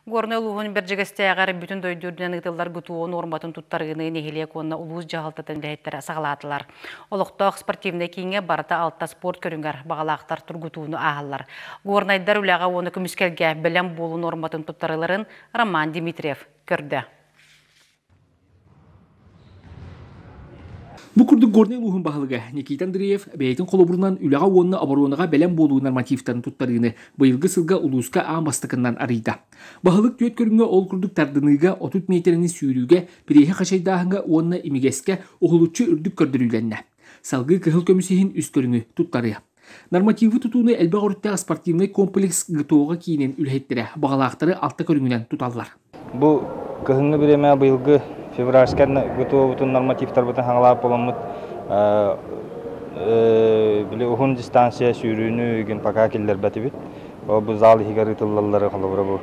Горнай улууһун Бэрдьигэстээҕэр бүтүн дойду үрдүнэн ыытыллар ГТО нуорматын туттарыыны нэһилиэк уонна улуус дьаһалтатын үлэһиттэрэ саҕалаатылар. Олохтоох спортивнай кииҥҥэ барыта алта спорт көрүҥэр баҕалаахтар тургутууну ааһаллар. Горнайдар үлэҕэ уонна көмүскэлгэ бэлэм буолуу нуорматын туттарыыларын Роман Дмитриев көрдө. Бу курдук Горнай улууһун баһылыга Никита Андреев бэйэтин холобурунан үлэҕэ уонна оборуонаҕа бэлэм буолуу нормативтарын туттарыыны быйылгы сылга улууска аан бастакынан арыйда. Баһылык түөрт көрүҥҥэ ол курдук тардыныыга, отут миэтэрэни сүүрүүгэ, переһи хачайдааһыҥҥа уонна имигэскэ уһулуччу үрдүк көрдөрүүлэннэ. Салгыы кыһыл көмүс иһин үс көрүҥү туттарыа. Нормативы тутууну элбэх өрүттээх спортивный комплекс ГТО-га киинин үлэһиттэрэ баҕалаахтары алта көрүҥүнэн туталлар. Бу кыһыҥҥы бириэмэҕэ быйылгы февральскай ГТО-бутун нормативтарбытын хаҥалаап буоламмыт били уһун дистанция сүүрүүнү гимпака киллэрбэтибит. бу зал иһигэр ыытыллаллары холобура бу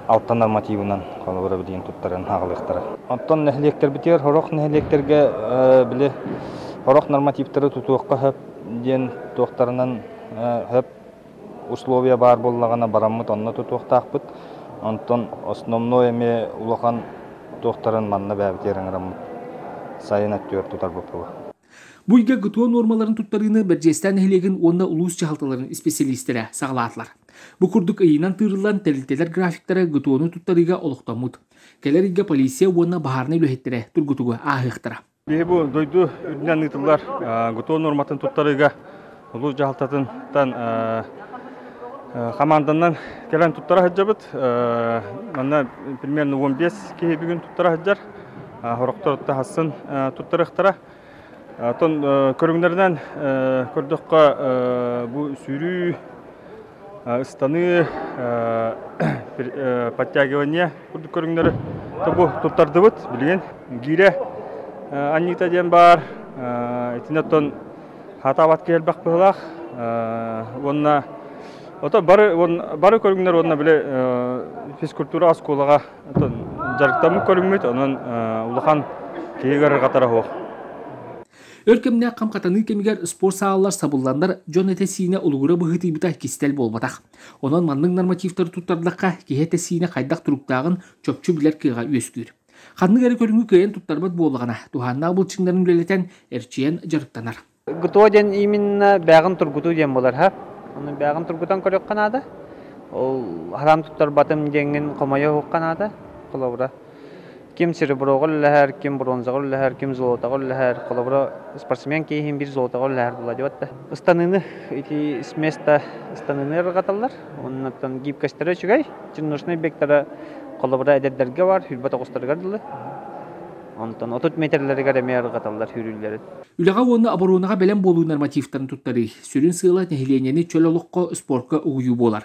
алтан нормативынан холобура билигин туттаран аҕалыахтара. Оттон нэһилиэктэрбитигэр хорох нэһилиэктэргэ били хорох нормативтары тутуохха хөп диэн туохтарынан хөп условия баар буоллаҕына бараммыт онно тутуохтаахпыт. Онтон основной эмиэ улахан туохтарын манна бэйэбитигэр ыҥыраммыт сайын өттүгэр тутарбыт була. Бу үйгэ ГТО нуормаларын туттарыыны Бэрдьиэстээн нэһилиэгин уонна улуус дьаһалталарын исписэлиистэрэ саҕалаатылар. Бу курдук ыйынан тыырыллан тэрилтэлэр графиктара ГТО-ну туттарыыга олохтоммут. Кэлэр ыйга полиция уонна баһаарынай үлэһиттэрэ тургутугу ааһыахтара. Биһи бу дойду үрдүнэн ыытыллар ГТО нуорматын туттарыыга улуу дьаһалтатыттан хамаанданан кэлэн туттара сылдьабыт. Манна примерно 15 киһи бүгүн туттара сылдьар. Сорохтор тахасын туттарыахтара. Оттон көрүҥнэринэн көрдөххө бу сүүрүү Ыстаныы подтягивание курдук көрүҥнэри тобу туттардыбыт. Билигин гире аннита диэн баар. Итиннэттон хатаабат киэрбэх быһылаах уонна ото бары бары көрүҥнэр уонна били физкультура оскуолаға жарыктамы көрүммүт онон улахан киһи көрөр қатара хуох Өр кэмнэ кам катаныы кэмигер спорт саалалар сабылланнар дьон этэ-сиинэ улугура быһытыйбыта кистел болбатах. Онон маннык нормативтары туттардакка киһи этэ-сиинэ хайдах туруктааҕын чопчу билер кыаҕа үөскүүр. Ханнык эрэ көрүҥү кыайан туттарбат буоллаҕына, туһааннаах былчыҥнарын үлэлэтэн, эрчийэн дьарыктанар. ГТО диэн именно бэҕин тургутуу диэн болар ха. Оны бэҕин тургутан көрүөххэ наада. Ол халам туттарбатым диэҥҥин хомойо уһукка наада. Холобура Ким сереброҕа үлэлэһэр, ким бронзаҕа үлэлэһэр, ким золотоҕа үлэлэһэр. Холобура, спортсмен киэһин биир золотоҕа үлэлэһэр буолла диэбэт да. Ыстаныыны ити с места ыстаныыны ырҕаталлар. Оннуттан гибкостара үчүгэй. Чиннушный бектара холобура эдэрдэргэ бар, үрбэт оҕустарыгар дылы. Онтон отут метрлэригэр эмиэ ырҕаталлар үүрүүллэрин. Үлэҕэ уонна оборонаҕа бэлэм буолуу нормативтарын туттарыы. Сүрүн сыала нэһилиэнньэни чөл олоххо, спортка угуйуу буолар.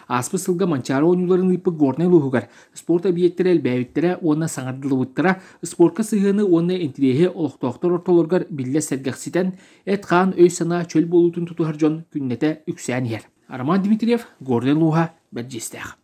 Ааспыт сылга Манчаары оонньууларын ыыппыт Горнай улууһугар спорт объектара элбээбиттэрэ уонна саҥардыллыбыттара спорка сыһыаны уонна интириэһи олохтоохтор ортолоругар биллэ сэргэхситэн, эт-хаан өй-санаа чөл буолуутун тутуһар дьон күннэтэ үксээн иһэр. Роман Дмитриев, Горнай улууһа, Бэрдьиистээх.